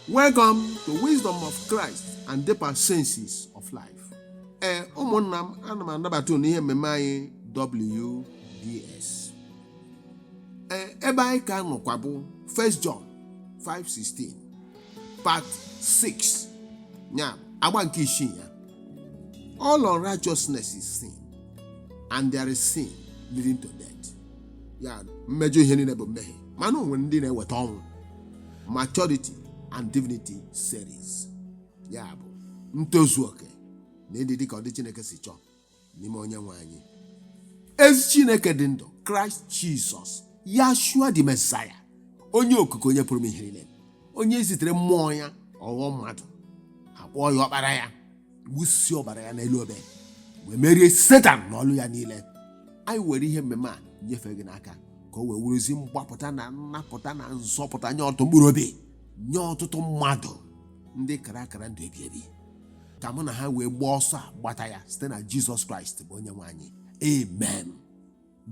Welcome to Wisdom of Christ and Deeper Senses of Life. Ee, ụmụnna m, ana m anabata unu n'ihe mmemme anyị WDS. Ee, ebe anyị ka nọkwa bụ 1 John 5:16 part 6 ya agba nke isii ya. All unrighteousness is sin and there is sin leading to death. Ya mmejọ ihe niile bụ mmehie mana o nwere ndị na-eweta ọnwụ. maturity and divinity series ya bụ ntozu oke na ịdị dịka ọdị chineke si chọọ n'ime onye nwe anyị ezi chineke dị ndụ kraịst jizọs yashua the mesaya onye okike onye pụrụ ime ihe niile onye zitere mmụọ ya ọ ghọọ mmadụ a kpọọ ya ọkpara ya wụsịa ọbara ya n'elu obe wee merie setan na ọlụ ya niile anyị were ihe mmemme a nyefee gị n'aka ka o wee bụrụzị mgbapụta na nnapụta na nzọpụta nye ọtụtụ mkpụrụ obi nye ọtụtụ mmadụ ndị kara akara ndụ ebi ebi ka mụ na ha wee gbaa ọsọ a gbata ya site na jizọs kraịst bụ onye nwe anyị amen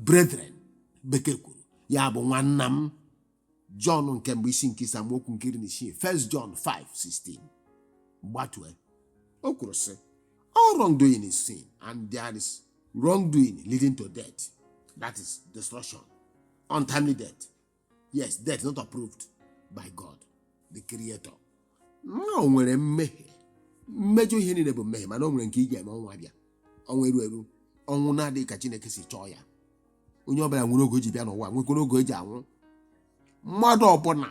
brethren bekee kwuru ya bụ nwanna m jọn nke mbụ isi nke ise amaokwu nke iri na isii 1 jọn 5:16 gbatue o kwuru sị all wrongdoing is sin and there is wrongdoing leading to death that is destruction untimely death yes death not approved by god the creator na o nwere mmehie mmejọ ihe niile bụ mmehie mana o nwere nke ị ga-eme ọnwụ abịa ọnwụ erughị eru ọnwụ na-adịghị ka chineke si chọọ ya onye ọbụla nwere oge o ji bịa n'ụwa nwekwara oge o ji anwụ mmadụ ọbụla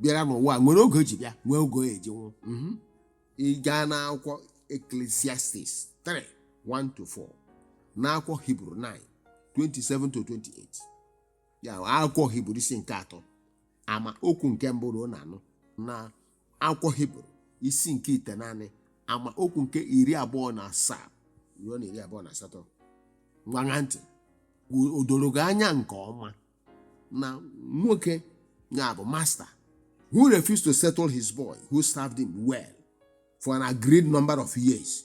bịara n'ụwa nwere oge o ji bịa nwee oge ọ ga-eji nwụ ị gaa n'akwụkwọ eklesiastis 3 1 to 4 n'akwụkwọ hibru 9 27 to 28 ya bụ akwụkwọ hiburu isi nke atọ ama okwu nke mbụ ruo na anọ na akwụkwọ hiburu isi nke itenaanị ama okwu nke iri abụọ na asaa ruo na iri abụọ na asatọ ngwa ṅaa ntị o doro gị anya nke ọma na nwoke ya bụ masta who refused to settle his boy who served him well for an agreed number of years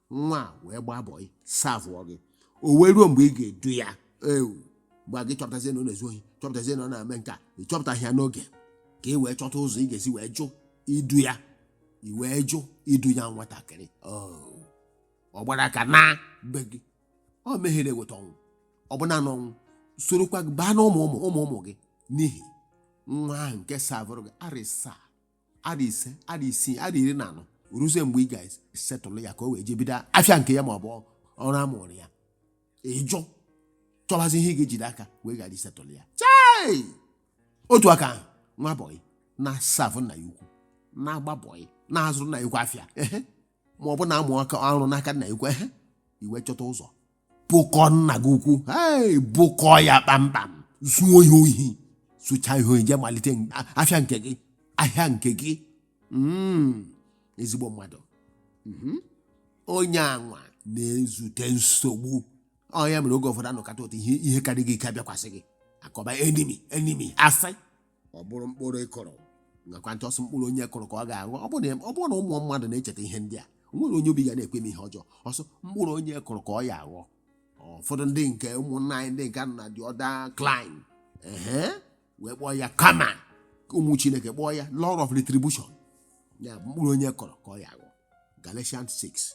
nwa a wee gbaa bọị savụọ gị o wee ruo mgbe ị ga-edu ya ọ bụ mgbe a gị chọpụtazie na ọ na-ezu ohi chọpụtazie na ọ na-eme nke a ị chọpụtaghị ya n'oge ka ị wee chọta ụzọ ị ga-esi wee jụ idu ya i wee jụ idu ya nwatakịrị ọ gbara aka na be gị ọ mmehie na-eweta ọnwụ ọbụna ọnwụ sorokwa gị baa na ụmụ ụmụ ụmụ ụmụ gị n'ihi nwa ahụ nke savụrụ gị arịsa arọ ise arọ isii arọ iri na anọ ruzie mgbe ị ga-esetụlụ ya ka o wee jee bido afịa nke ya ma ọ bụ ọrụ amụrụ ya ịjụ chọbazi ihe ị ga-ejide aka wee ghara isetụlụ ya chai otu aka ahụ nwa bọyị na-asavụ nna ya ukwu na-agba bọyị na-azụrụ nna ya ukwu afịa ehe ma ọ bụ na-amụ aka ọrụ n'aka nna ya ukwu ehe i wee chọta ụzọ bụkọ nna gị ukwu ee bụkọ ya kpamkpam zuo ya ohi zucha ya ohi jee malite n- a- afịa nke gị ahịa nke gị Mm, ezigbo mmadụ Mhm. onye anwa na-ezute nsogbu ya mere oge ụfọdụ a nọkata ụtọ ihe ihe karịrị gị ike abịakwasị gị a kọba enemy enemy asị ọ bụrụ mkpụrụ ị kụrụ ṅakwa ntị ọ sị mkpụrụ onye kụrụ ka ọ ga-aghọ ọ bụrụ na ọ bụrụ na ụmụ mmadụ na-echeta ihe ndị a o nwere onye obi ga na-ekwe mee ihe ọjọọ ọ sị mkpụrụ onye kụrụ ka ọ ya-aghọ ụfọdụ ndị nke ụmụnna anyị ndị nke nọ na the other clime ehe wee kpọọ ya karma ụmụ chineke kpọọ ya law of retribution ya bụ mkpụrụ onye kụrụ ka ọ ya-aghọ galatians 6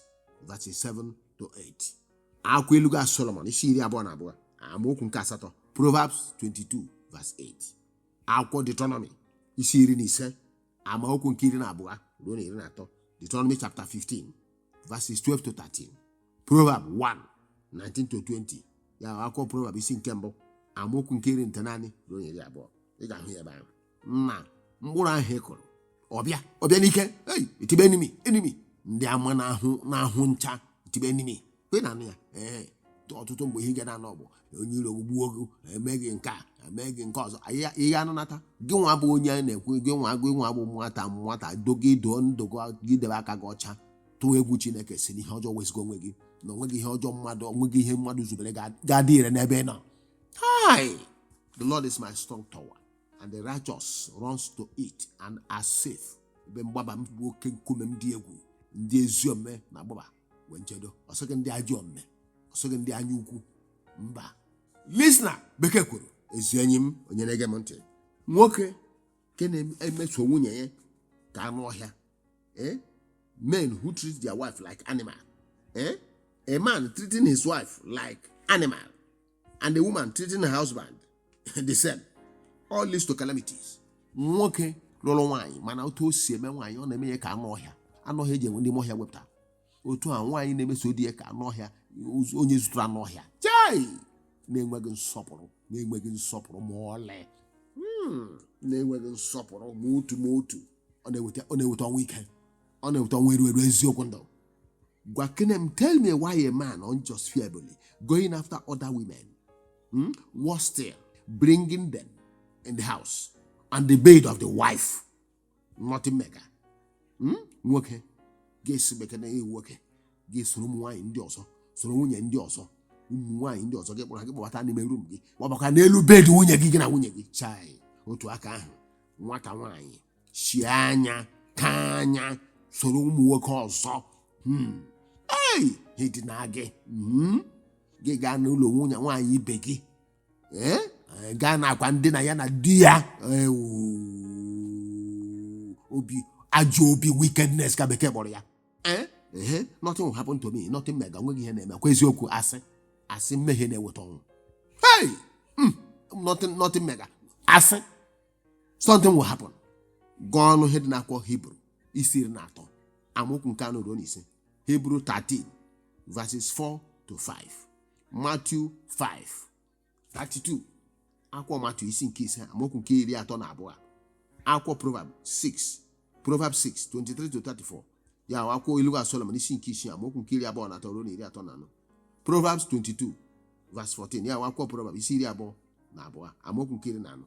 verses 7 to 8 akwụkwọ ilu ga solomon isi iri abụọ na abụọ amaokwu nke asatọ proverbs 22 verse 8 akwụkwọ deuteronomy isi iri na ise amaokwu nke iri na abụọ ruo na iri na atọ deuteronomy chapter 15 verses 12 to 13 proverb 1 19 to 20 ya bụ akwụkwọ proverb isi nke mbụ amaokwu nke iri na itenaanị ruo na iri abụọ ị ga-ahụ ya ebe ahụ na mkpụrụ ahụ ị kụrụ ọ bịa ọ bịa n'ike ei e tibe enemy enemy ndị ama na-ahụ na-ahụ ncha e tibe enemy ị na-anụ ya ee ọtụtụ mgbe ihe ị ga na-anụ bụ onye iro gbuo gị e mee gị nke a e mee gị nke ọzọ ihe ihe anụnata gị nwa bụ onye a na-ekwu gị nwa gị nwa bụ nwata nwata dogo ido ndụ gị gị debe aka gị ọcha tụọ egwu chineke si n'ihe ọjọọ wezụga onwe gị na o nweghị ihe ọjọọ mmadụ o nweghị ihe mmadụ zubere ga- ga-adị ire n'ebe ị nọ hi the lord is my strong tower and the righteous runs to it and are safe ebe mgbaba m bụ oke nkume m dị egwu ndị ezi omume na-agbaba nwee nchedo ọ sịghị ndị ajọ omume ọ sịghị ndị anya ukwu mba listener bekee kwuru ezi enyi m onye na-ege m ntị nwoke nke na-emeso nwunye ya ka anụ ọhịa eh? men who treat their wife like animal eh? a man treating his wife like animal and a woman treating her husband the same all leads to calamities nwoke lụrụ nwaanyị mana otu o si eme nwaanyị ọ na-eme ya ka anụ ọhịa anụ ọhịa e jee nwude n'ime ọhịa wepụta otu a nwaanyị na-emeso di ya ka anụ ọhịa ụz- onye zụtara anụ ọhịa chai na-enweghị nsọpụrụ na-enweghị nsọpụrụ ma ọlị Hmm, na-enweghị nsọpụrụ ma otu ma otu ọ na-eweta ọ na-eweta ọnwụ ike ọ na-eweta ọnwụ eru eru eziokwu ndụ gwakene m tell me why a man unjustifiably going after other women hmm? was still bringing them in the house and the bed of the wife nothing mega hmm? nwoke ga-esi bekee na ewu nwoke ga-esoro ụmụ nwaanyị ndị ọzọ soro nwunye ndị ọzọ ụmụ nwaanyị ndị ọzọ gị kpọrọ ha gị kpọbata n'ime room gị gbabakwa n'elu bed nwunye gị gị na nwunye gị chai otu aka ahụ nwata nwaanyị sie anya ka anya soro ụmụ nwoke ọzọ Hmm. e dinaa gị Hmm. gị gaa n'ụlọ nwunye nwaanyị ibe gị ee Ee, gaa n'akwa ndina ya na di ya Ewu. ajọ obi wickedness ka bekee kpọrọ ya Ee, ehe, nothing will happen to me nothing mega nweghị ihe na-eme kwa eziokwu asị asị mmehie na-eweta ọnwụ hey! Mm, nothing, nothing mega asị something will happen gụọnụ ihe dị n'akwụkwọ hibru isi iri na atọ amaokwu nke anọ ruo na ise hebrew 13 verses 4 to 5 matthew 5 32 akwụkwọ matthew isi nke ise amaokwu nke iri atọ na abụọ akwụkwọ proverb 6 proverb 6 23 to 34 ya akwụkwọ ilu solomon isi nke isii amaokwu nke iri abụọ na atọ ruo na iri atọ na anọ proverbs 22 verse 14 ya akwụkwọ proverb isi iri abụọ na abụọ amaokwu nke iri na anọ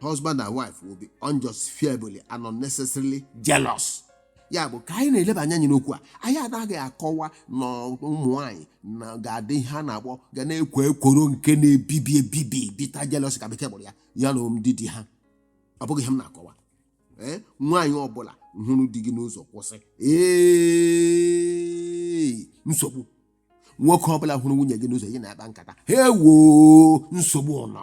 husband and wife will be unjustifiably and unnecessarily jealous ya bụ ka anyị na-eleba anya anyị n'okwu a anyị anaghị akọwa na ụmụ nwaanyị na ga-adị ihe a na-akpọ ga na-ekwo ekworo nke na-ebibi ebibi bitter jealous ka bekee kpọrọ ya na ndị di ha ọ bụghị ihe m na-akọwa ee nwaanyị ọbụla hụrụ di gị n'ụzọ kwụsị ee nsogbu nwoke ọbụla hụrụ nwunye gị n'ụzọ gị na-akpa nkata ha ewoo nsogbu ụlọ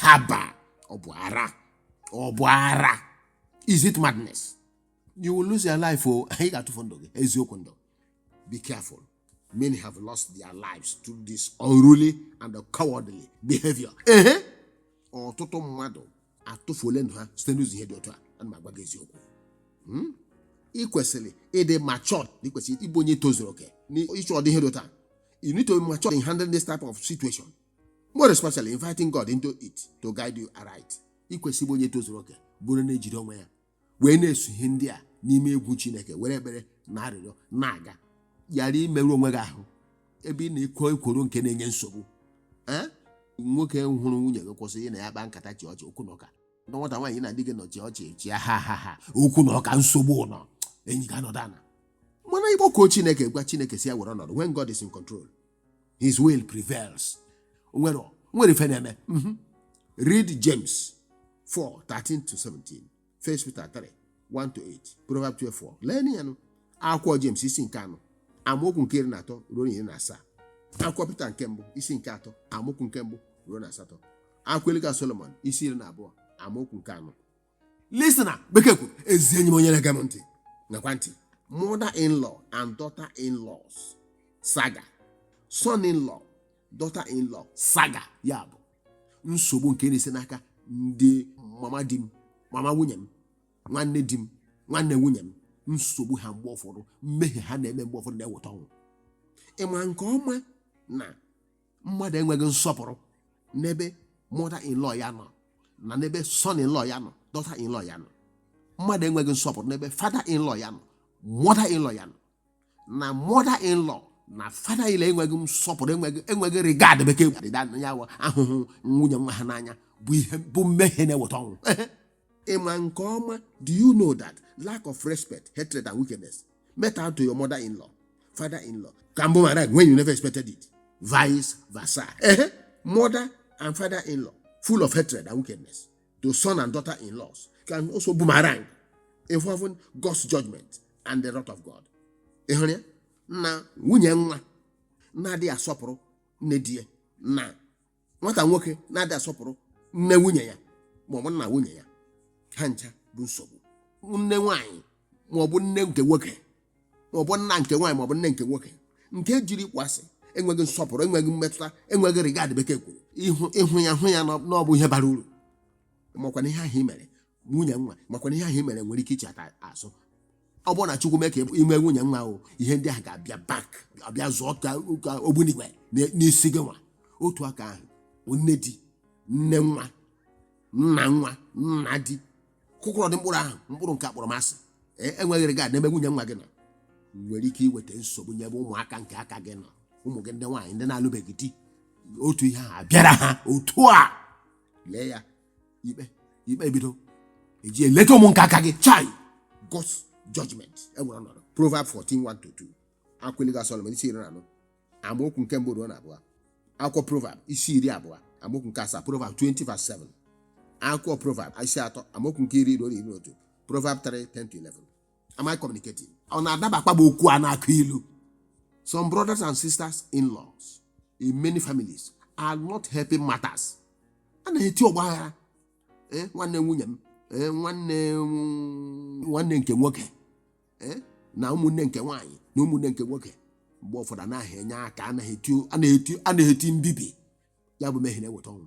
haba ọ bụ ara ọ bụ ara is it madness you will lose your life o ị ga-atụfu ndụ gị eziokwu ndụ be careful many have lost their lives through this unruly and cowardly behavior ehe ọtụtụ mmadụ atụfuole ndụ ha site n'ụzọ ihe dị otu a ana m agwa gị eziokwu Hmm? ị kwesịrị ịdị matured na ị kwesịrị ịbụ onye tozuru oke n'ịchụ ọdị ihe dị otu a you need to be matured in handling this type of situation more especially inviting God into it to guide you aright ị kwesị ịbụ onye tozuru oke bụrụ na-ejide onwe ya wee na-eso ihe ndị a n'ime egwu Chineke were ekpere na arịrịọ na-aga ghara imerụ onwe gị ahụ ebe ị na-ekwo ekworo nke na-enye nsogbu ee nwoke hụrụ nwunye gị kwụsị ya na ya kpaa nkata chịa ọchị okwu na ụka na nwata nwaanyị na di gị nọ chịa ọchị chịa ha ha ha okwu na ụka nsogbu nọ enyi ga-anọdụ ana mana ịkpọkuo Chineke gwa Chineke sị ya were ọnọdụ when God is in control his will prevails O nwere o nwere ife na-eme Mhm. read james 4 13 to 17 1 peter 3 1 to 8 proverb 12 4 lee ya nụ akwụkwọ james isi nke anọ amaokwu nke iri na atọ ruo na iri na asaa akwụkwọ peter nke mbụ isi nke atọ amaokwu nke mbụ ruo na asatọ akwụkwọ ilu ka solomon isi iri na abụọ amaokwu nke anọ Listener, Bekee kwuru, ezi enyi m onye na-ege m ntị ṅakwa ntị mother-in-law and daughter-in-laws saga son-in-law daughter-in-law saga ya bụ nsogbu nke na-esi n'aka ndị mama di m mama nwunye m nwanne di m nwanne nwunye m nsogbu ha mgbe ụfọdụ mmehie ha na-eme mgbe ụfọdụ na-eweta ọnwụ ị ma nke ọma na mmadụ enweghị nsọpụrụ n'ebe mother in law ya nọ na n'ebe son in law ya nọ daughter in law ya nọ mmadụ enweghị nsọpụrụ n'ebe father in law ya nọ mother in law ya nọ na mother in law na father in law enweghị nsọpụrụ enweghị regard bekee ya ahụhụ nwunye nwa ha n'anya bụ mmehie na-eweta ọnwụ ịma nke ọma do you know that lack of respect hatred and wickedness met out to your mother in law father in law can be married when you never expected it vice versa ehe mother and father in law full of hatred and wickedness to son and daughter in laws can also boomerang involving God's judgment and the wrath of God ịhụrụ ya na nwunye nwa na-adịghị asọpụrụ nne di ya na nwata nwoke na-adịghị asọpụrụ nne nwunye ya ma ọ bụ nna nwunye ya ha ncha bụ nsogbu nne nwaanyị ma ọ bụ nne nke nwoke ma ọ bụ nna nke nwaanyị ma ọ bụ nne nke nwoke nke jiri ịkpọasị enweghị nsọpụrụ enweghị mmetụta enweghị regard bekee kwuru ịhụ ya hụ ya na ọ bụ ihe bara uru makwa na ihe ahụ i mere nwunye nwa makwa na ihe ahụ i mere nwere ike ichigha azụ ọ bụrụ na chukwu mee ka ị nwee nwunye nwa ahụ ihe ndị ahụ ga-abịa back abịa zụọ ka ka ogbunigwe na- n'isi gị nwa otu aka ahụ nne di nne nwa nna nwa nna di kụkọrọ dị mkpụrụ ahụ mkpụrụ nke akpọrọmasị enweghị regard n'ebe nwunye nwa gị nọ nwere ike iweta nsogbu n'ebe ụmụaka nke aka gị nọ ụmụ gị ndị nwaanyị ndị na-alụbeghị di otu ihe ahụ abịara ha otu a lee ya ikpe ebido eji eleta ụmụ nke aka gị chai God's judgment ewere ọnọdụ Proverb 14 1 to 2 akwụkwọ ilu ka Solomon isi iri na anọ amaokwu nke mbụ ruo na abụọ akwụkwọ Proverb isi iri abụọ amaokwu nke asaa Proverb 20 verse 7 akwụkwọ Proverb isi atọ amaokwu nke iri ruo na iri na otu Proverb 3 10 to 11 am I communicating ọ na-adabakwa bụ okwu a na-akụ ilu some brothers and sisters in-laws in many families are not helping matters a na-eti ọgba aghara eh, nwanne nwunye m eh, nwanne mm, nwanne nke nwoke eh, na ụmụnne nke nwaanyị na ụmụnne nke nwoke mgbe ụfọdụ anaghị enye aka a na-eti mbibi ya bụ mmehie na-eweta ọnwụ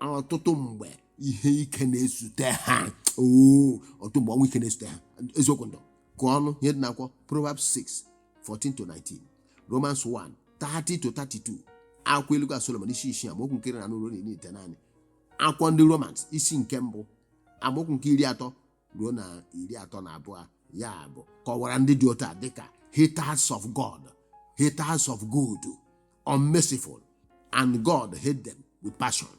ọtụtụ mgbe ihe ike na-ezute ha oo ọtụtụ mgbe ọnwụ ike na-ezute ha eziokwu ndụ gụọnụ ihe dị n'akwụkwọ Proverbs 6 14 to 19 Romans 1 30 to 32 akwụkwọ ilu ka Solomon isi isii amaokwu nke iri na anọ ruo na iri na itenaanị akwụkwọ ndị Romans isi nke mbụ amaokwu nke iri atọ ruo na iri atọ na abụọ ya bụ kọwara ndị dị otu a dịka haters of God haters of good unmerciful and God hate them with passion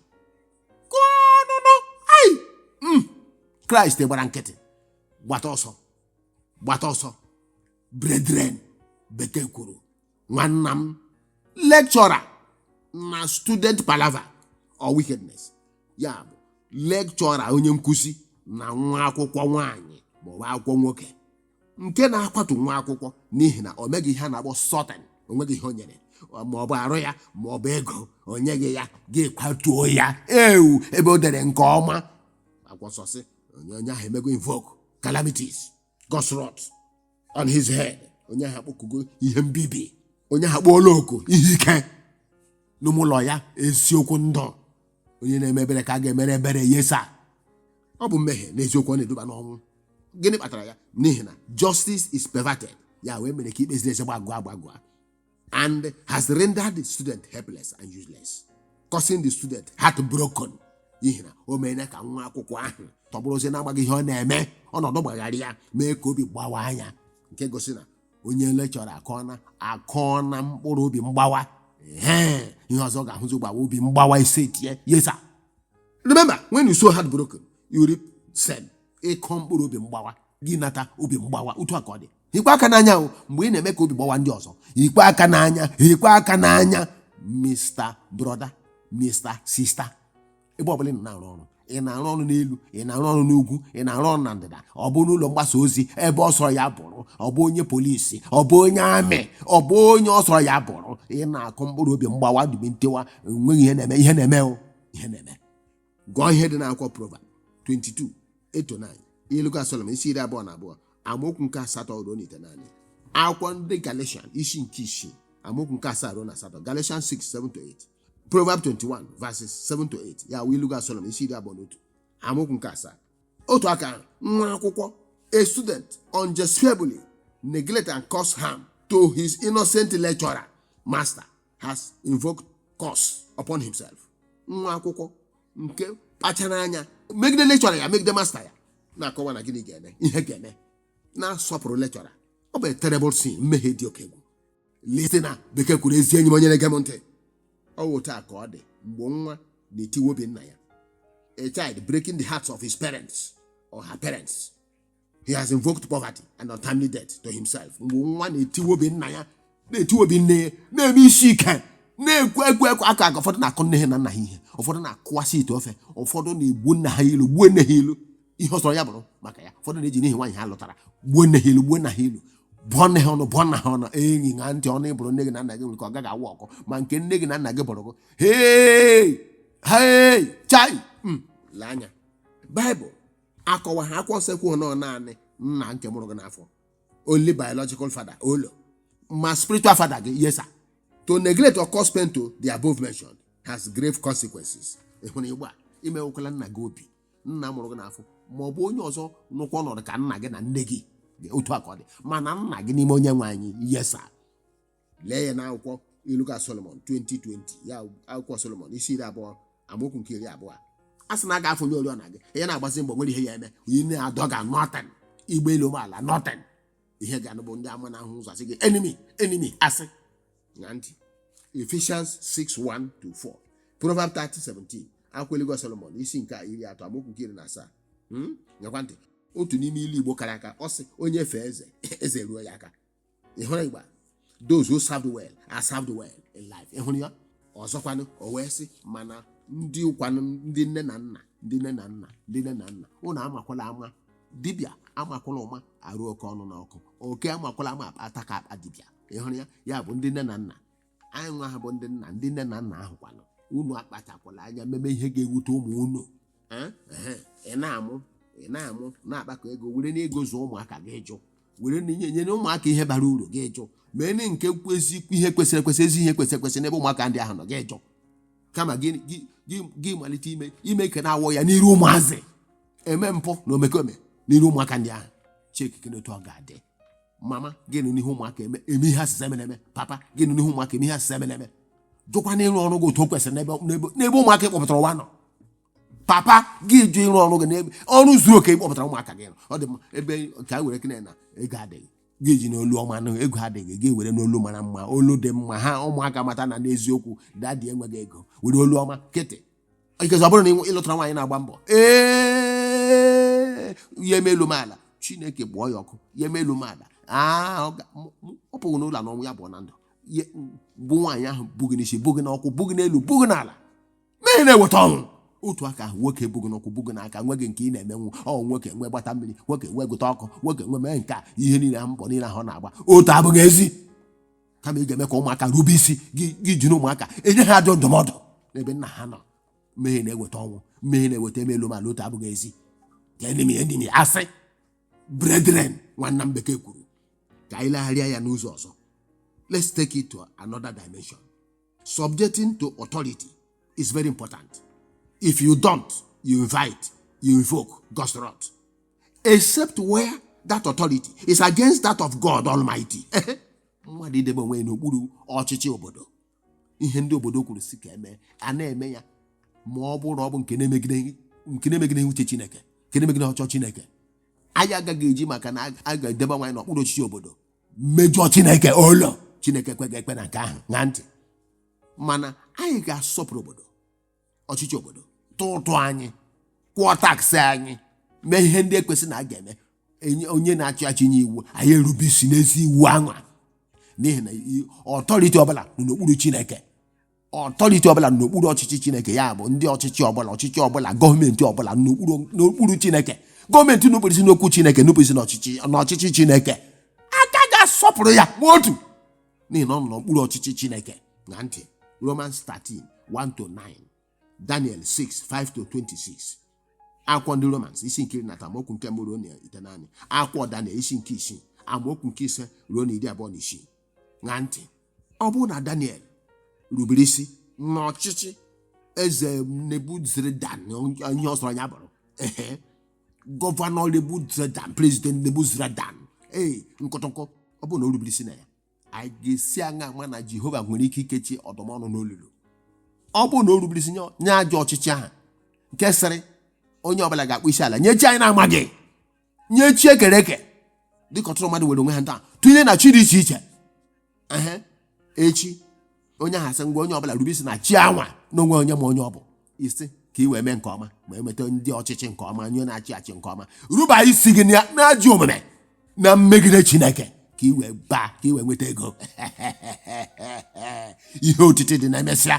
gụọnụnụ ai Mm. Kraịst gbara nkịtị gbata ọsọ gbata ọsọ brethren bekee kwuru nwanna m lecturer na student palava or wickedness ya bụ lecturer onye nkụzi na nwa akwụkwọ nwaanyị maọbụ akwụkwọ nwoke nke na-akwatu nwa akwụkwọ n'ihi na o meghị ihe a na-akpọ sorting o nweghị ihe o nyere maọbụ arụ ya maọbụ ego o nyeghị ya gị kwatuo ya ewu ebe o dere nke ọma akwọsọsị onye onye ahụ emego invoke calamities God's wrath on his head. Onye ahụ akpọkugo ihe mbibi. Onye ahụ akpọọla oku ihe ike. N'ime ụlọ ya eziokwu ndụ. Onye na-eme ebere ka a ga-emere ebere yes sir. Ọ bụ mmehie n'eziokwu ọ na-eduba n'ọnwụ. Gịnị kpatara ya? N'ihi na justice is perverted. Ya wụ e mere ka ikpe ziri ezi gbagọọ agbagọ. and has rendered the student helpless and useless, causing the student heartbroken. N'ihi na o meela ka nwa akwụkwọ ahụ tọgbọrọzie n'amaghị ihe ọ na-eme ọnọdụ gbagharịa ya mee ka obi gbawaa nya nke gosi na onye lecturer akọna akọna mkpụrụ obi mgbawa Ehe, ihe ọzọ ọ ga-ahụzi bụ obi mgbawa isee yes sir remember when you sow heartbroken you reap same ị kọọ mkpụrụ obi mgbawa gị nata obi mgbawa otu a ka ọ dị hikwaa aka n'anya o mgbe ị na-eme ka obi gbawa ndị ọzọ hikwaa aka n'anya hikwaa aka n'anya my brother my sister ebe ọbụla ị nọ na-arụ ọrụ ị na-arụ ọrụ n'elu ị na-arụ ọrụ n'ugwu ị na-arụ ọrụ na ndịda ọ bụ n'ụlọ mgbasa ozi ebe ọ sọrọ ya bụrụ ọ bụ onye polisi ọ bụ onye army ọ bụ onye ọ sọrọ ya bụrụ ị na-akụ mkpụrụ obi mgbawa na obi ntiwa enweghị ihe na-eme ihe na-eme o ihe na-eme gụọ ihe dị n'akwụkwọ Proverb 22 8 to 9 ilu ga Solomọn isi iri abụọ na abụọ amaokwu nke asatọ ruo na itenaanị akwụkwọ ndị Galatian isi nke isii amaokwu nke asaa ruo na asatọ Galatian 6 7 to 8 Proverb 21 verses 7 to 8 ya wụ ilu ga Solomọn isi iri abụọ na otu amaokwu nke asaa otu aka ahụ, nwa akwụkwọ a student unjustifiably neglect and cause harm to his innocent lecturer master has invoked curse upon himself nwa akwụkwọ nke kpachara anya megide lecturer ya megide master ya na-akọwa na gịnị ga-eme ihe ga-eme na-asọpụrụ lecturer ọ bụ a terrible sin mmehie dị oke egwu listener bekee kwuru ezi enyi m onye na-ege m ntị ọ wụ otu a ka ọ dị mgbe nwa na-etiwa obi nna ya a child breaking the hearts of his parents or her parents he has invoked poverty and untimely death to himself mgbe nwa na-etiwe obi nna ya na-etiwe obi nne ya na-eme isi ike na-ekwu egwu ekwu aka aka ụfọdụ na-akụ nne ha na nna ha ihe ụfọdụ na-akụwasị ite ofe ụfọdụ na-egbu nna ha ilu gbuo nne ha ilu ihe ọ sọrọ ya bụrụ maka ya ụfọdụ na-eji n'ihi nwaanyị ha lụtara gbuo nne ha ilu gbuo nna ha ilu bụọ nne ha ọnụ bụọ nna ha ọnụ enyi ṅa ntị ọnụ ị bụrụ nne gị na nna gị nwere ike ọ gaghị awụ ọkụ ma nke nne gị na nna gị bụrụ gị hei hei chai Mm, lee anya baịbụl akọwaghị akwụkwọ nsọ ekwughị na ọ naanị nna nke mụrụ gị n'afọ only biological father olo ma spiritual father gị yes sir to neglect or cause pain to the above mentioned has grave consequences ị hụrụ ugbu a emewekwala nna gị obi nna mụrụ gị n'afọ ma ọ bụ onye ọzọ nọkwa ọnọdụ ka nna gị na nne gị otu a ka ọ dị mana nna gị n'ime onye nwe anyị yes sir lee ya n'akwụkwọ ilu ga solomon 20:20 ya akwụkwọ solomon isi iri abụọ amaokwu nke iri abụọ a sị na a ga-afụnyụ oriọna gị ya na-agbazi mbọ nwere ihe ya eme onye na-adọ ga nothing ị gbaa elu ị gbaa ala nothing ị gaa be ndị amụma na-ahụ ụzọ a sị gị enemy enemy a sị ṅa ntị Ephesians 6:1 to 4 Proverb 30:17 akwụkwọ ilu ga Solomon isi nke iri atọ amaokwu nke iri na asaa Hmm? nyekwa ntị otu n'ime ilu Igbo kara aka ọ sị onye fee eze eze eruo ya aka ị hụrụ ugbu a those who served well are served well in life ị hụrụ ya ọzọkwanụ o wee sị mana ndị kwanụ ndị nne na nna ndị nne na nna ndị nne na nna unu amakwala ama dibịa amakwala ụma arụ oke ọnụ n'ọkụ oke amakwala ama akpa ataka akpa dibịa ị hụrụ ya ya bụ ndị nne na nna anyị nwa ha bụ ndị nna ndị nne na nna ahụ kwanụ unu akpachakwala anya meme ihe ga-ewute ụmụ unu Eh, ehe, ị na-amụ ị na-amụ na-akpakọ ego werenụ ego zụọ ụmụaka gị jụ were n'inye nyere ụmụaka ihe bara uru gị jụ mee na nke kwezi ihe kwesịrị ekwesị ezi ihe kwesịrị ekwesị n'ebe ụmụaka ndị ahụ nọ gị jụ kama gị gị- gị- gị malite ime ime ike na-awọ ya n'iru ụmụazị eme mpụ na omekome n'iru ụmụaka ndị ahụ chike kedu otu ọ ga-adị mama gị nọ n'ihu ụmụaka eme eme ihe a sị sị emela eme papa gị nọ n'ihu ụmụaka eme ihe a sị sị emela eme jụkwanụ ịrụ ọrụ gị otu o kwesịrị n'ebe n'ebe- n'ebe ụmụaka ị kpọpụtara ụwa nọ papa gị jụ ịrụ ọrụ gị n'ebe ọrụ zuru oke ị kpọpụtara ụmụaka gị nọ. ọ dị mma ebe ka e werekene na ego adịghị gị jinụ olu ọma nụ ego adịghị gị werenụ olu mara mma olu dị mma ka ụmụaka mata na n'eziokwu daddy enweghị ego were olu ọma kịtị ikezi ọ bụrụ na ị lụtara nwaanyị na-agba mbọ ee ya emee elu mee ala chineke gbụọ ya ọkụ ya emee elu mee ala aa, ọ ga- m- m- ọ pụghị n'ụlọ na ọnwụ ya bụ na ndụ Ya- bụ nwaanyị ahụ bu gị n'isi bu gị n'ụkwụ bu gị n'elu bu gị n'ala mee na-ewetanwu otu aka ahụ nwoke bu gị n'ụkwụ bu gị n'aka nweghị nke ị na-emenwu ọ nwoke nwe gbata mmiri nwoke nwe gote ọkụ nwoke nwe mee nke a ihe niile ahụ mbọ niile ahụ ọ na-agba otu abụghị ezi kama ị ga-eme ka ụmụaka rube isi gị ejiri ụmụaka enye ha ajọ ndụmọdụ n'ebe nna ha nọ mmehie na-eweta ọnwụ mmehie na-eweta eme elu mee ala otu abụghị ezi ka enemy enemy asị brethren nwanna m bekee kwuru ka anyị legharịa ya n'ụzọ ọzọ let's take it to another dimension subjecting to authority is very important if you don't you invite you invoke god's wrath except where that authority is against that of God Almighty. mmadụ idebe onwe ya n'okpuru ọchịchị obodo ihe ndị obodo kwuru sị ka e mee a na-eme ya ma ọ bụrụ ọ bụ nke na-emegide nke na-emegide uche Chineke nke na-emegide ọchịchọ Chineke anyị agaghị eji maka na a ga-edebe onwe anyị n'okpuru ọchịchị obodo mejọ Chineke olo Chineke ekweghị ekwe na nke ahụ ṅa ntị mana anyị ga-asọpụrụ obodo ọchịchị obodo tụ ụtụ anyị kwụọ tax anyị mee ihe ndị ekwesị na a ga-eme onye na-achị achị nye iwu anyị erube isi n'ezi iwu anwa n'ihi na i- authority ọbụla nọ n'okpuru chineke authority ọbụla nọ n'okpuru ọchịchị chineke ya bụ ndị ọchịchị ọbụla ọchịchị ọbụla government ọbụla nọ n'okpuru n'okpuru chineke government nupụrụ isi n'okwu chineke nupụrụ isi n'ọchịchị n'ọchịchị chineke a ka ga-asọpụrụ ya ma otu n'ihi na ọ nọ n'okpuru ọchịchị chineke ṅa ntị romans 13 1 to 9 daniel 6 5 to 26 akwụkwọ ndị romans isi nke iri na atọ amaokwu nke mbụ ruo na itenaanị akwụkwọ daniel isi nke isii amaokwu nke ise ruo na iri abụọ na isii ṅa ntị ọ bụrụ na daniel rubere isi n'ọchịchị eze nebuzaradan ihe ọ sọrọ ya bụrụ ehe governor Nebuzaradan president Nebuzaradan ee nkọtọnkọ ọ bụrụ na o rubere isi na ya anyị ga-esi aṅa ama na Jehova nwere ike ikechi ọdụm ọnụ n'olulu ọ bụrụ na o rubere isi nye- nye ajọ ọchịchị ahụ nke sịrị onye ọbụla ga-akpọ isi ala nye chi anyị na-amaghị nye chi ekere eke dịka ọtụtụ mmadụ were onwe ha taa tụnye na chi dị iche iche ehe echi onye ahụ asị ngwa onye ọbụla rube isi na chi anwa n'onwe onye ma onye ọ bụ ị sị ka i wee mee nke ọma ma enweta ndị ọchịchị nke ọma onye na-achị achị nke ọma ruba isi gị na- n'ajọ omume na-emegide chineke ka i wee baa ka i wee nweta ego ihe otiti dị na emesịa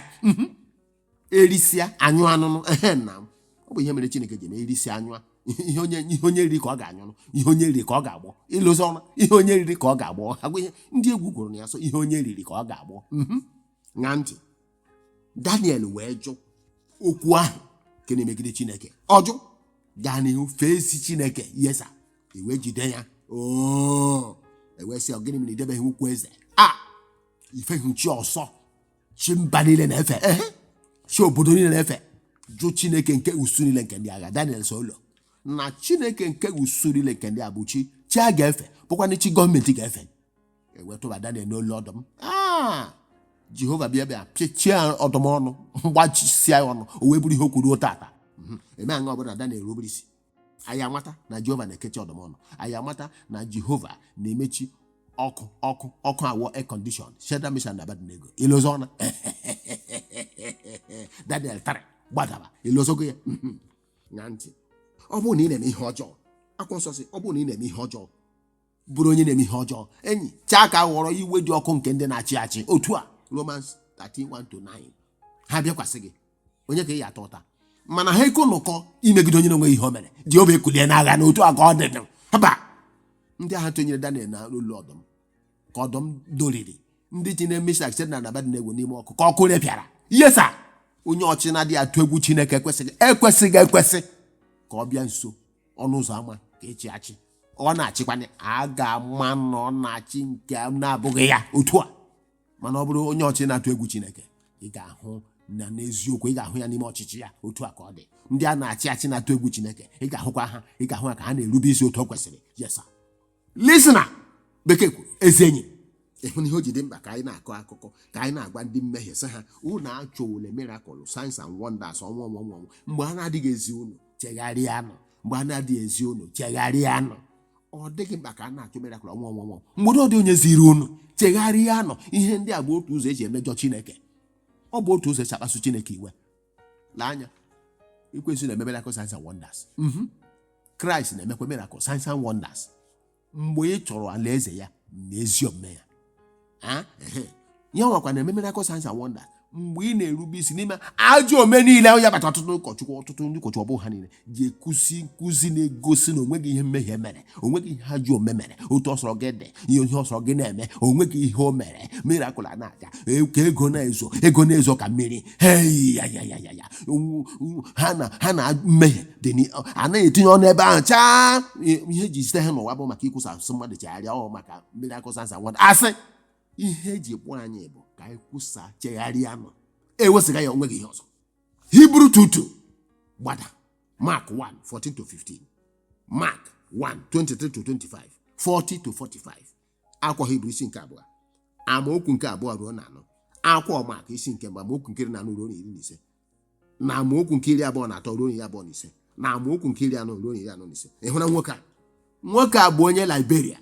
erisịa anyụ anụnụ ehe na m ọ bụ ihe mere chineke ji eme erisịa anyụ a. ihe onye ihe onye riri ka ọ ga-anyụ nụ ihe onye riri ka ọ ga-agbọ ịlụzi ọma ihe onye riri ka ọ ga-agbọ agwa ihe ndị egwu gụrụ na ya so ihe onye riri ka ọ ga-agbọ Mhm. ṅa ntị daniel wee jụ okwu ahụ nke na-emegide chineke ọ jụ gaa n'ihu fee isi chineke yes ewee jide ya oo ewee sị ọ gịnị mere i debeghị okwu eze a i feghị chi ọsọ chi mba niile na-efe ehe chi obodo niile na-efe jụ chineke nke usu niile nke ndị agha daniel sị olo na chineke nke usu niile nke ndị agha bụ chi chi a ga-efe bụkwanụ chi gọọmenti ga-efe e wee tụba daniel n'olulu ọdụm Ah! jehova bịa bịa pịchie ọdụm ọnụ gbachisia ya ọnụ o wee bụrụ ihe o kwuru tata eme aṅa ọ bụ na daniel rubere isi anyị amata na jehova na-ekechi ọdụm ọnụ anyị amata na jehova na-emechi ọkụ ọkụ aghọọ air condition shadrach meshach na abednego i lozona daniel 3 gbadaba i lozogo ya mhm, ṅaa ntị ọ bụrụ na ị na-eme ihe ọjọọ akwụkwọ nsọ sị ọ bụrụ na ị na-eme ihe ọjọọ bụrụ onye na-eme ihe ọjọọ enyi chaa ka ghọrọ iwe dị ọkụ nke ndị na-achị achị otu a Romans 13:1-9 ha bịakwasị gị onye ka ị ya-ata ụta mana ha eko nụkọ imegide onye na-enweghị ihe o mere Jehova ekulie n'agha na otu a ka ọ dị dị haba ndị agha tụnyere Daniel n'olulu ọdụm ka ọdụm doriri ndị ji na Meshach Shadrach na Abednego n'ime ọkụ ka ọkụ repịara yes sir onye ọchị na-adịghị atụ egwu Chineke ekwesịghị ekwesị ka ọ bịa nso ọnụ ụzọ ama ka esi achị ọ na-achịkwanụ a ga-ama na ọ na-achị nke na-abụghị ya otu a mana ọ bụrụ onye ọchị na-atụ egwu chineke ị ga-ahụ na n'eziokwu ị ga-ahụ ya n'ime ọchịchị ya otu a ka ọ dị ndị a na-achị achị na-atụ egwu chineke ị ga-ahụkwa ha ị ga-ahụ ha ka ha na-erube isi otu o kwesịrị yes sir listener bekee kwuru ezi enyi ị hụna ihe o ji dị mkpa ka anyị na-akọ akụkọ ka anyị na-agwa ndị mmehie sị ha unu achọwule miracle signs and wonders ọnwa ọnwa ọnwa ọnwa. mgbe a na-adịghị ezi unu chegharịanụ mgbe a na-adịghị ezi unu chegharịanụ ọ dịghị mkpa ka a na-achọ miracle ọnwa ọnwa ọnwa mgbe ọ dịghị onye ziri unu chegharịanụ ihe ndị a bụ otu ụzọ eji emejọ chineke ọ bụ otu ụzọ esi akpasu chineke iwe lee anya ekwensu na-eme miracle signs and wonders Mhm. kraịst na-emekwa miracle signs and wonders mgbe ị chọrọ alaeze ya na ezi omume ya Ah, ehe. ya nwakwa na-eme miracle signs and wonders mgbe ị na-erube isi n'ime ajọ ome niile ahụ ya kpata ọtụtụ ụkọchukwu ọtụtụ ndị ụkọchukwu ọ bụghị ha niile ji ekuzi nkụzi na-egosi na onweghị ihe mmehie mere onweghị ihe ajọ ome mere otu ọ sọrọ gị dị ihe ọ sọrọ gị na-eme onweghị ihe o mere miracle a na-aga e- ka ego na-ezo ego na-ezo ka mmiri hei ya ya ya ya ya ha na ha na mmehie dị a naghị etinye ọnụ ebe ahụ chaa ihe eji zite ha n'ụwa bụ maka ikwusa sị ụmụ mmadụ chegharịa ọ maka miracle signs and wonders a sị ihe eji kpọọ anyị bụ ka anyị kwusa chegharịanụ ewesịga ya onweghị ihe ọzọ hebrews 2 2 gbada mark 1 14 to 15 mark 1 23 to 25 40 to 45 akwụkwọ hibru isi nke abụọ amaokwu nke abụọ ruo na anọ akwụkwọ maak isi nke mbụ amaokwu nke iri na anọ ruo na iri na ise na amaokwu nke iri abụọ na atọ ruo iri abụọ na ise na amaokwu nke iri anọ ruo iri anọ na ise ị hụna nwoke a nwoke a bụ onye Liberia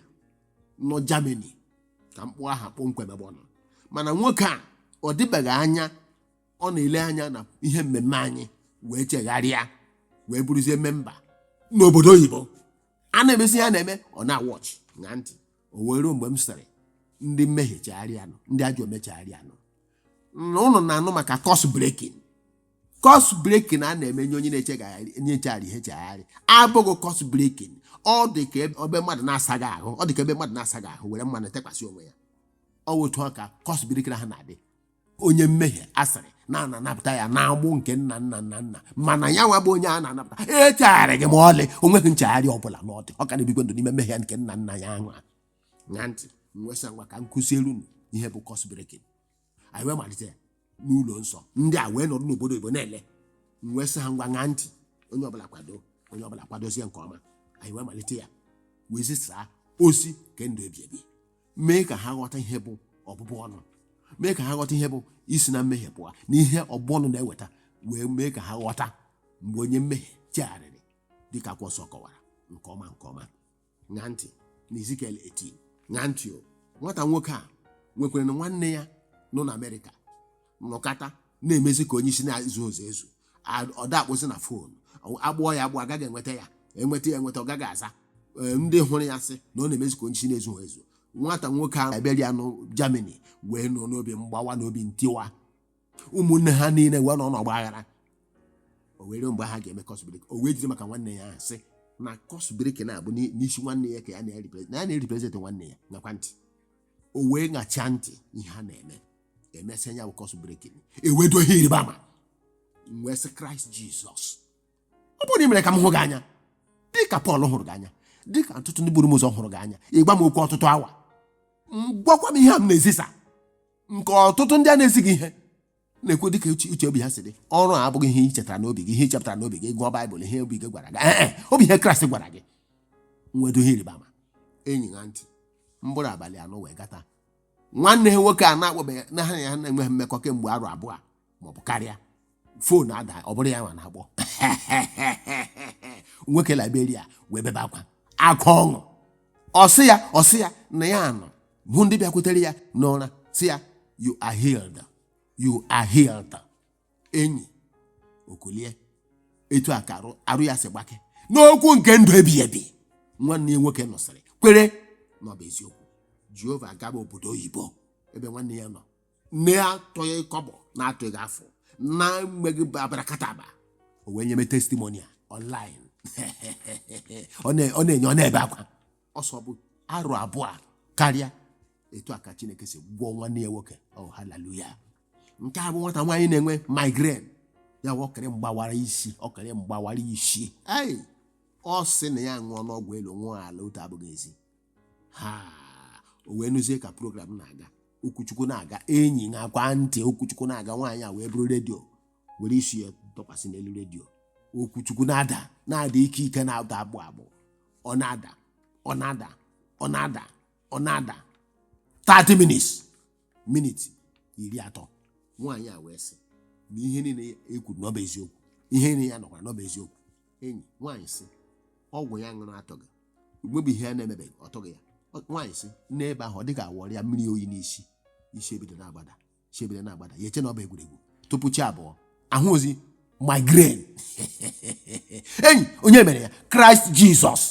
nọ Germany ka m kpọ aha kpọmkwem ebe ọ nọ mana nwoke a ọ dịbeghị anya ọ na-ele anya na ihe mmemme anyị wee chegharịa wee bụrụzie memba n'obodo oyibo a na-emezi ihe a na-eme ọ na-awatch ṅaa ntị o wee ruo mgbe m sịrị ndị mmehie chegharịanụ ndị ajọ ome chegharịanụ na ụnụ na-anụ maka curse breaking curse breaking a na-eme nye onye na-echegharị onye na-echegharịghị echegharị abụghị curse breaking ọ dị ka ebe ebe mmadụ na-asaghị ahụ ọ dị ka ebe mmadụ na-asaghị ahụ were mmanụ tekwasị onwe ya ọ wụ otu a ka curse breaking ahụ na-adị onye mmehie a sịrị na a na-anapụta ya n'agbụ nke nna nna nna nna mana ya nwa bụ onye a na-anapụta echegharịghị ma ọlị o nweghị nchegharị ọbụla na ọdị ọ ka na-ebikwa ndụ n'ime mmehie nke nna nna ya ahụ ṅaa ntị m wee sị ngwa ka m kụziere unu ihe bụ curse breaking anyị wee malite ya n'ụlọ nsọ ndị a wee nọrọ n'obodo oyibo na-ele m wee sị ha ngwa ṅaa ntị onye ọbụla kwado onye ọbụla kwadozie nke ọma anyị wee malite ya wee zisaa ozi nke ndụ ebi ebi mee ka ha ghọta ihe bụ ọbụbụ ọnụ mee ka ha ghọta ihe bụ isi na mmehie pụọ na ihe ọbụbụ ọnụ na-eweta wee mee ka ha ghọta mgbe onye mmehie chegharịrị dịka akwụkwọ nsọ kọwara nke ọma nke ọma ṅaa ntị na Ezikiel 18 ṅaa ntị o nwata nwoke a nwekwaranụ nwanne ya nọ na Amerịka nọkata na-emezi ka onye isi na-ezuzughị ezu A- ọ da akpọzi na fon a kpọọ ya akpọ a gaghị enweta ya enweta ya enweta ọ gaghị aza Ee, ndị hụrụ ya sị na ọ na-emezi ka onye isi na-ezughị ezu nwata nwoke Liberia nọ Germany wee nọ n'obi mgbawa na obi ntiwa ụmụnne ha niile wee nọ n'ọgba aghara o wee ruo mgbe ha ga-eme curse breaking o wee jiri maka nwanne ya ahụ sị na curse breaking a bụ n'i- n'isi nwanne ya ka ya na-erepresent na ya na-erepresent nwanne ya ṅakwa ntị o wee ṅachaa ntị ihe ha na-eme emesịa ya bụ curse breaking e wee doo ihe ịrịba ama m wee sị kraịst jizọs ọ bụrụ na ị mere ka m hụ gị anya dị ka pọl hụrụ gị anya dị ka ọtụtụ ndị buru m ụzọ hụrụ gị anya ị gwa m okwu ọtụtụ awa m gwakwa m ihe a m na-ezisa nke ọtụtụ ndị a na-ezighị ihe na-ekwu dịka uche uche obi ha si dị ọrụ a abụghị ihe i chetara n'obi gị ihe i chepụtara n'obi gị gụọ baịbụl ihe obi gị gwara gị ee e, ọ bụ ihe kraịst gwara gị m wee doo ihe ịrịba ama enyi ṅaa ntị mkpụrụ abalị anọ wee gata nwanne ha nwoke a na-akpọbeghị na ha na ya na-enweghị mmekọ kemgbe arọ abụọ maọbụ karịa fon adaa ọ bụrụ ya nwa na-akpọ nwoke liberia wee bebe akwa akwa ọṅụ ọ sị ya ọ sị ya na ya nọ hụ ndị bịakwutere ya n'ụra sị ya you are healed you are healed enyi o kulie etu a ka arụ arụ ya si gbake n'okwu nke ndụ ebighị ebi nwanne ya nwoke nụsịrị kwere na ọ bụ eziokwu jehova agaba obodo oyibo ebe nwanne ya nọ na-atụghị kọbọ na-atụghị afụ na-emeghị abarakataba o wee nyebe testimoni a online ọ na- ọ na-enye ọ na-ebe akwa ọ sị ọ bụ arọ abụọ karịa etu a ka chineke si gwọọ nwanne ya nwoke oh haleluya nke a bụ nwata nwaanyị na-enwe migraine ya bụ ọkịrị mgbawara isi ọkịrị mgbawara isi ei ọ sị na ya aṅụọna ọgwụ elu ṅụọ ala otu abụghị ezi ha o wee nụzie ka program na-aga okwu chukwu na-aga enyi ṅaakwa ntị okwu chukwu na-aga nwaanyị a wee buru redio were isi ya tọkwasị n'elu redio okwu chukwu na-ada na-ada ike ike na-ada agbụ agbụ ọ na-ada ọ na-ada ọ na-ada ọ na-ada 30 minutes miniti iri atọ nwaanyị a wee sị na ihe niile e kwuru na ọ bụ eziokwu ihe niile ya nụkwara na ọ bụ eziokwu enyi nwaanyị sị ọgwụ ya ṅụrụ atọghị nwebeghị ihe ya na-emebeghị ọ tọghị ya Ọ- nwaanyị sị n'ebe ahụ ọ dị ka a wụrụ ya mmiri oyi n'isi isi ebido na-agbada isi ebido na-agbada ya eche na ọ bụ egwuregwu tupu chi abọọ a hụrọzi migraine enyi onye mere ya kraịst jizọs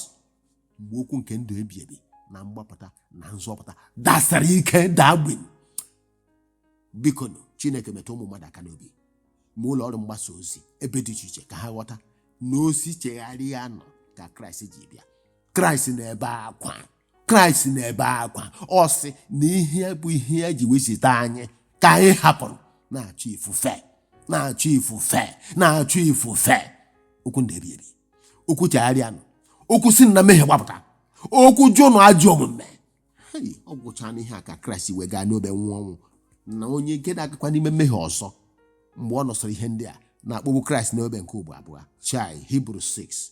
mgbe okwu nke ndụ ebi ebi na mgbapụta na nzọpụta dasara ike daa gbim bikonụ chineke metụ ụmụ mmadụ aka n'obi ma ụlọ ọrụ mgbasa ozi ebe dị iche iche ka ha ghọta na ozi chegharịanụ ka kraịst ji bịa kraịst na-ebe akwa kraịst na-ebe akwa ọ sị na ihe bụ ihe ya ji wee zite anyị ka anyị hapụrụ na-achụ ifufe na-achụ ifufe na-achụ ifufe okwu ndụ ebi ebi okwu chegharịanụ okwu si na mmehie gbapụta okwu jụnụ ajọ omume Hei, ọ bụcha n'ihi ya ka kraịst ji wee gaa n'obe nwụọ ọnwụ na onye nke na-agakwa n'ime mmehie ọzọ mgbe ọ nụsịrị ihe ndị a na-akpọgbu kraịst n'obe nke ugbo abụọ chai hibru 6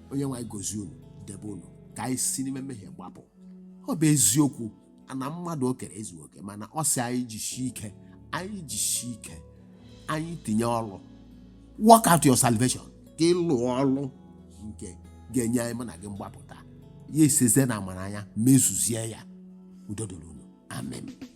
onyenwe anyị gozie unu debe unu ka anyị si n'ime mmehie gbapụ ọ bụ eziokwu na mmadụ o kere ezughị oke mana ọ sị anyị jisie ike anyị jisie ike anyị tinye ọrụ work out your salvation ka ị lụọ ọlụ nke ga-enye anyị mụ na gị mgbapụta ya esizie n'amara ya mezuzie ya udo dịrị unu amen